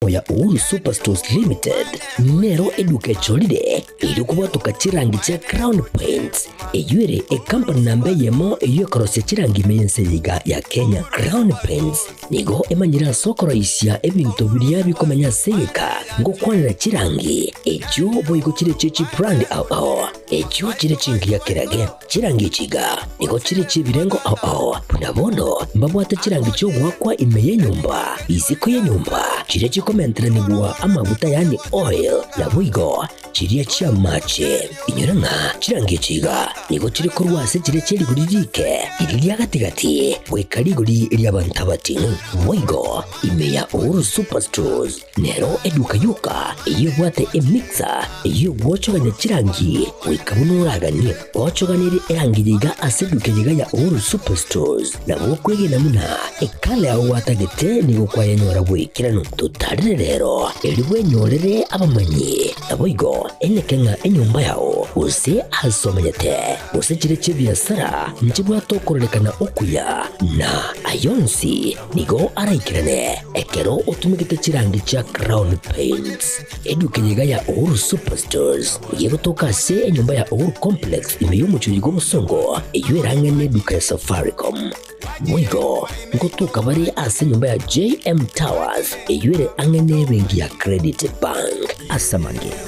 oya Uhuru Superstores Limited nero eduka echorire eri okobwatoka chirangi chia Crown Paints eyio ere ecompany namba eyemo eyio ekorosia chirangi ime y'ense yaiga ya Kenya. Crown Paints nigo emanyire ase okoroisia ebinto biria bikomenya ase eyeka ngokwanera chirangi echio boigo chire echio chibrand ao ao echio chire chingiya kerage. Chirangi chiga nigo chire chi'ebirengo ao ao, buna bono mbabwate chirangi chi'ogoakwa ime y'enyomba, isiko y'enyomba, chiria chikomenteranigwa amaguta yaani oil, naboigo chiria chi'amaache. Inyore ng'a chirangi chiga nigo chire korwa ase chiria chie rigori riike iri ria gati-gati goika rigori ri'abanto abatino, boigo ime ya Uhuru Superstores. Nero eduka yoka eyio ebwate emixer ey'ogwochogania chirangi, goika buna oraganie gochoganirie erangi yaiga ase eduka eyaiga ya Uhuru Superstores. Na gokwegena buna ekale ao gwatagete nigo kwayanyora bw'ekerano totarire rero, erio bwenyorere abamanyi, naboigo eneke ng'a enyomba yao, gose aase omanyete, gose chire chi'ebiasara nchibwate okorarekana okuya, na ayio onsi, Nigo araikirane ekero otumegete chirangi chia Crown Paints. Eduka eye iga ya Uhuru Superstores, nigo egotoka ase enyomba ya Uhuru Complex ime y'omochie oyiga obosongo, eyio erang'aine ne eduka ya Safaricom. Boigo, ngotoka bare ase enyomba ya JM Towers, eyio ere ang'e ne ebenki ya Credit Bank. Ase amang'ina,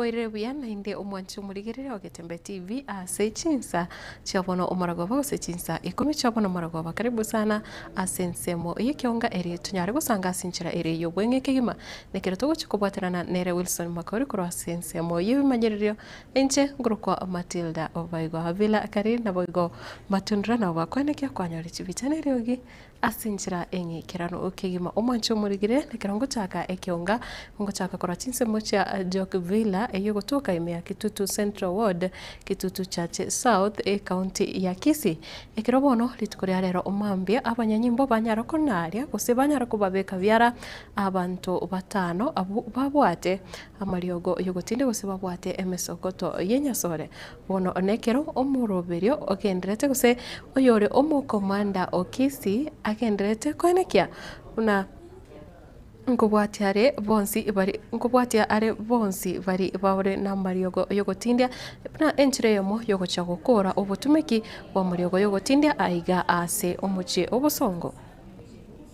Boirire buya naende omwanche omorigereri ogete Mbe TV ase chinsa chi'obono omorogoba gose chinsa ikomi chi'obono omorogoba. Karibu sana ase ensemo eye kiaonga ere tonyare gosanga ase enchera ere y'obweng'e kegima. Nekero togochia kobwaterana nere Wilson Makori korwa ase ensemo y'ebimanyererio, inche nkorokwa Matilda oboigo Avila Akari naboigo Matundra nabo bakoenekia kwanyore chibicha na eriogi ase enchera eng'e ekerano kegima omwanche omorigirie. Nekero ngochaka ekeonga, ngochaka korwa chinsemo chia Jock Villa eyio gotoka ime ya Kitutu Central Ward, Kitutu Church South, Ekaunti ya Kisii. Ekero bono rituko ria rero mambia abanyanyimbo banyara konaaria gose banyara kobabeka biara Abanto batano abwo babwate amariogo y'ogotinda gose babwate emesogoto y'enyasore. Bono nekero omoroberio ogendererete gose oyore omokomanda o kesi agendererete koenekia buna nkobwatia are bonsi bari nkobwatia are bonsi bari bare namariogo y'ogotindia buna enchera eyomo y'ogochia gokora obotumeki bw'amariogo y'ogotindia aiga ase omochie obosongo.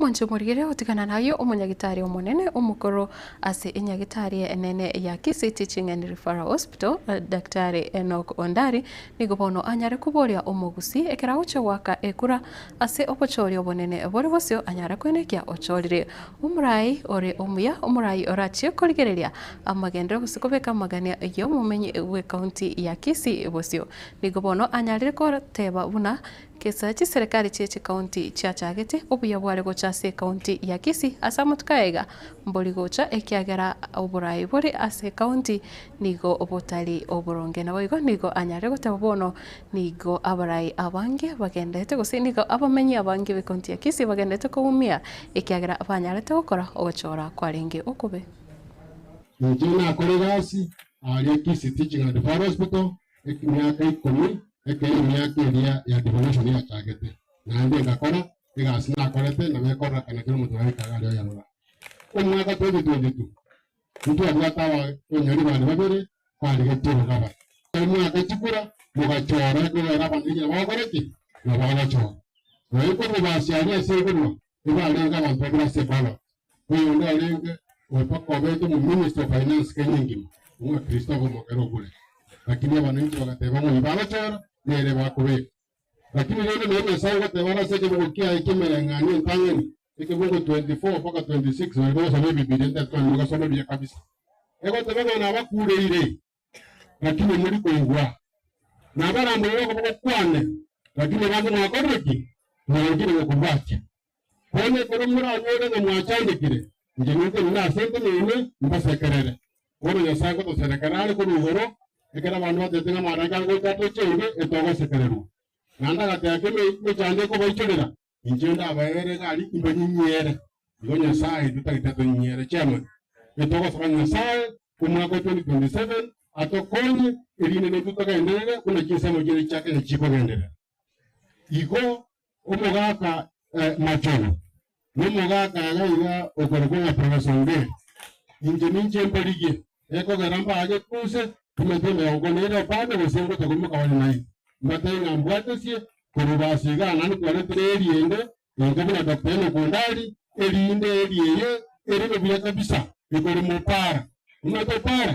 Monche morigere gotigana naye omonyagitari omonene omokoro ase enyagitari enene ya Kisii Teaching and Referral Hospital, Daktari Enock Ondari, nigo bono anyare koboria omogusii ekero agochia goaka ekura Ase obochooria obonene bore bosio anyare kwenekia ochoorire. Omorai ore omuya, omorai orachie korigereria amagendereo gose kobeka amagania y'omomenyi bw'ekaunti ya Kisii bosio, nigo bono anyarire goteba buna kesa chiserekari chie chikaunti chiachagete obuya bware gocha ase ekaunti ya Kisii ase amatuko aiga mbori gocha ekiagera oborai bore ase ekaunti nigo botari oboronge. Naboigo nigo anyarire goteba bono Nigo abarai abange bagenderete, gose nigo abamenyi abange be County ya Kisii bagenderete koumia ekiagera banyarete gokora ogochora kwarenge okobe. Inche nakore egasi aaria Kisii Teaching and Referral Hospital emiaka ikomi ekero emiaka eria ya devolution yachagete, naende ngakora egasi nakorete nabo ekororekana kera omonto naende kabe aria oyarora. Omwaka 2022 Intwabwate abakonyori bane babere barigetie Barnabas. Emwaka chikura mogachoora ekorera abanto ekiagera bagokora ki? Na bagochoora. Na ekorwa base aria ase ekorwa nibarenge abanto babere ase Balak, oyonde orenge obete omominista o finance Kenya engima, omwakristo okomokera Ogulet. Lakini abananchi bagateba ng'o ibagochoora, nere bakobeka. Lakini rende nonya Nyasae ogoteba are ase ekebugo kiaye ki'emereng'anio entang'ani, ekebugo 24-26, baria bagosoma Ebibilia ntetwani mogasome buya kabisa, egoteba ng'a nabakureire, lakini mori koigwa, nabaramborire okoboko kwane, lakini bande mwakorire ki? Mwarengire gokobwatia. Korende ekero moranyore ng'a mwachandekire, inche ninche onde ase enkume ime, mbasekerere. Bono Nyasae ngotoserekera are korwa igoro, ekero abanto batete ng'a amalaika ngocha ase chiaigwa etogosekererwa. Naende agateeka emechando ekobaichorera, inche ndabaeere egari imbanyinyiere. Igo Nyasae intwe tagete atonyinyiere chiamate. Etogosaba Nyasae omwaka o 2027 atokonye, erinde naintwe togenderere buna chinsemo chiaye chia Kenya chikogenderera. Igo omogaka eh, Machogu, nomogaka iga iga okorokwa ng'a Professor Ongeri, inche ninche mborigie, ekogera mbaage kunse emete emerongo ne ere epande gose ngote koimoka bare naende, mbatebie ng'a mbwatesie korwa ibasi igaa naende kwaretire eriende enke buna Doctor Enock Ondari, erinde eeri eye ereme buya kabisa, ekore mopara. Omanyete opara?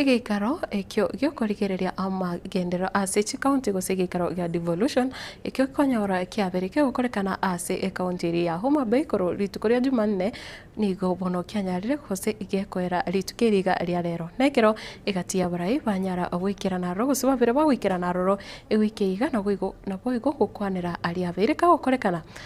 Egeikaro ekio gi'okorigereria amagenderero ase chikaunti gose egeikaro gia devolution ekio nkonyora kiabere kegokorekana ase ekaunti eria ya Homa Bay korwa rituko ria Jumanne nigo bono kianyarire gose gekoera rituko eri iga ria rero. Nekero egati y'abarai banyara goikerana aroro gose babere bagoikerana aroro, egoika iga naboigo gokwanera aria abeire kagokorekana.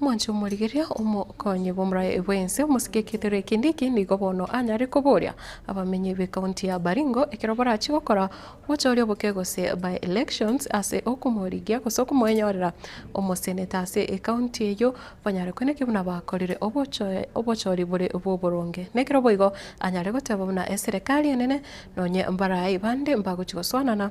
Omonto omorigereria, omokonyi bw'omoraia bwensi, omosike eketerero ekende eke, nigo bono anyare koboria abamenyi b'ecounty ya Baringo ekero barachie gokora obotooria oboke gose by-elections ase okomorigia gose okomoenyorera omoseneta ase ecounty eyio banyare koina ki buna bakorire obochoori bore bw'oboronge. Nekero boigo anyare goteba buna eserekari enene nonye mbaraai bande mbagochia gosoanana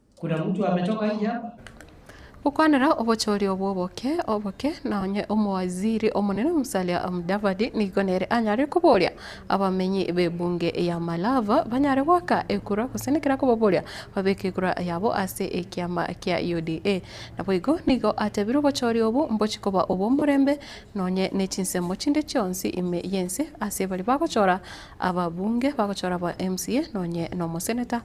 Gokwanera obochori obwo oboke oboke, na onye Omowaziri omonene Musalia Mudavadi nigo nere anyare koboria abamenyi b'ebunge ya Malava banyare goaka ekura gose nekera kobaboria babeke ekura yabo ase ekiama kia UDA. Naboigo nigo atebire obochori obwo mbochi koba obw'omorembe nonye ne chinsemo chinde chionsi ime y'ense ase baria bagochora ababunge, bagochora aba mca nonye nomoseneta.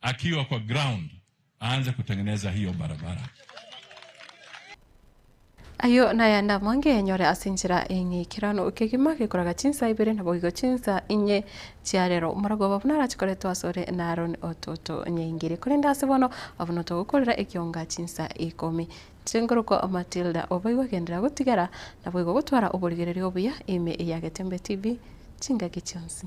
Akiwa kwa ground aanze kutengeneza hiyo barabara. Ayio nayande amo ngenyore ase enchera eye ng'a ekerano kegima gekoraga chinsa ibere naboigo chinsa inye chia rero. Omoragwa obo buna arachikorete asore n'Aroni ototonyaingerie, korende ase bono abwo notogokorera ekionga chinsa ikomi. Inche nkorokwa Matilda, oboigo agenderera gotigara naboigo gotwara oborigereria obuya ime eyagete mbe TV chingaki chionsi.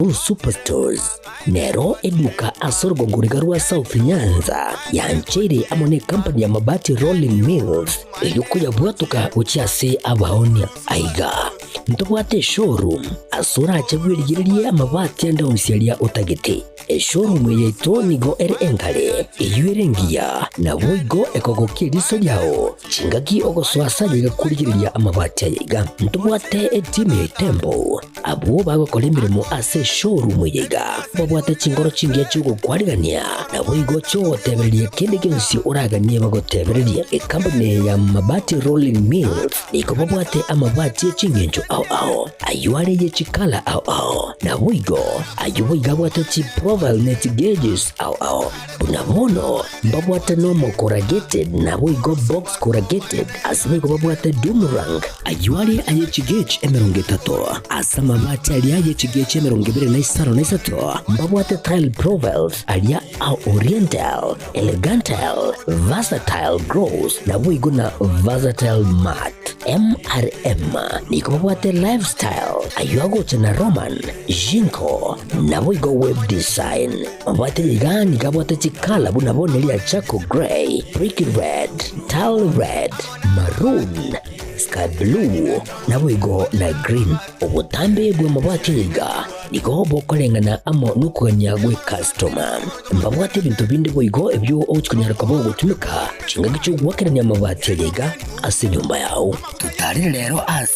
Uru Superstores nero eduka ase orugongo riga rwa South Nyanza yancheire amo nekampani ya Mabati Rolling Mills eyio koyabwatoka gochia ase abaonia. Aiga, ntobwate eshowroom ase orache bwerigererie amabati ande onsi aria otagete. Eshowroom eye yaito nigo ere engare, eyio ere engiya, naboigo ekogokia eriso riao Chingaki ogosoa ase aye igakorigereria amabati aya iga, ntobwate etimu ya etembo. Abwo bagokora emeremo ase eshowroom eye iga, mbabwate chinkoro chingiya chi'ogokwarigania, naboigo chi'ogotebereria kende gionsi oraganie bagotebererie. Ekambuni eye ya Mabati Rolling Mills nigo babwate amabati e chingencho ao ao, ayio are ye chikala ao ao, naboigo ayio boigo abwate chiprofile ne chigauges ao ao. Na bono mbabwate Nomo Corrugated, naboigo Box Corrugated, asebaigo igo babwate Doom Rank, ayio are aye chigechi emerongo etato, ase amabati aria aye chigechi emerongo ebere na isano na isato mbabwate Tile Profiles, aria a Oriental, Elegantile, Versatile Gross, naboigo na Versatile Mat. MRM nigo babwate Lifestyle, ayio agocha na Roman, Jinko, naboigo Web Design. Obwate iga nigo abwate chikala buna bone ria Charcoal Grey, Brick Red, Tile Red, Maroon, Sky Blue, naboigo na Green. Obotambe bw'amabwati aiga nigo bokoreng'ana amo nokogania gwe customer. Mbabwate ebinto binde boigo ebio ogochikonyara koba ogotumeka chingaki chi'ogoakerania amabati aria iga ase enyomba yao. Totarire rero ase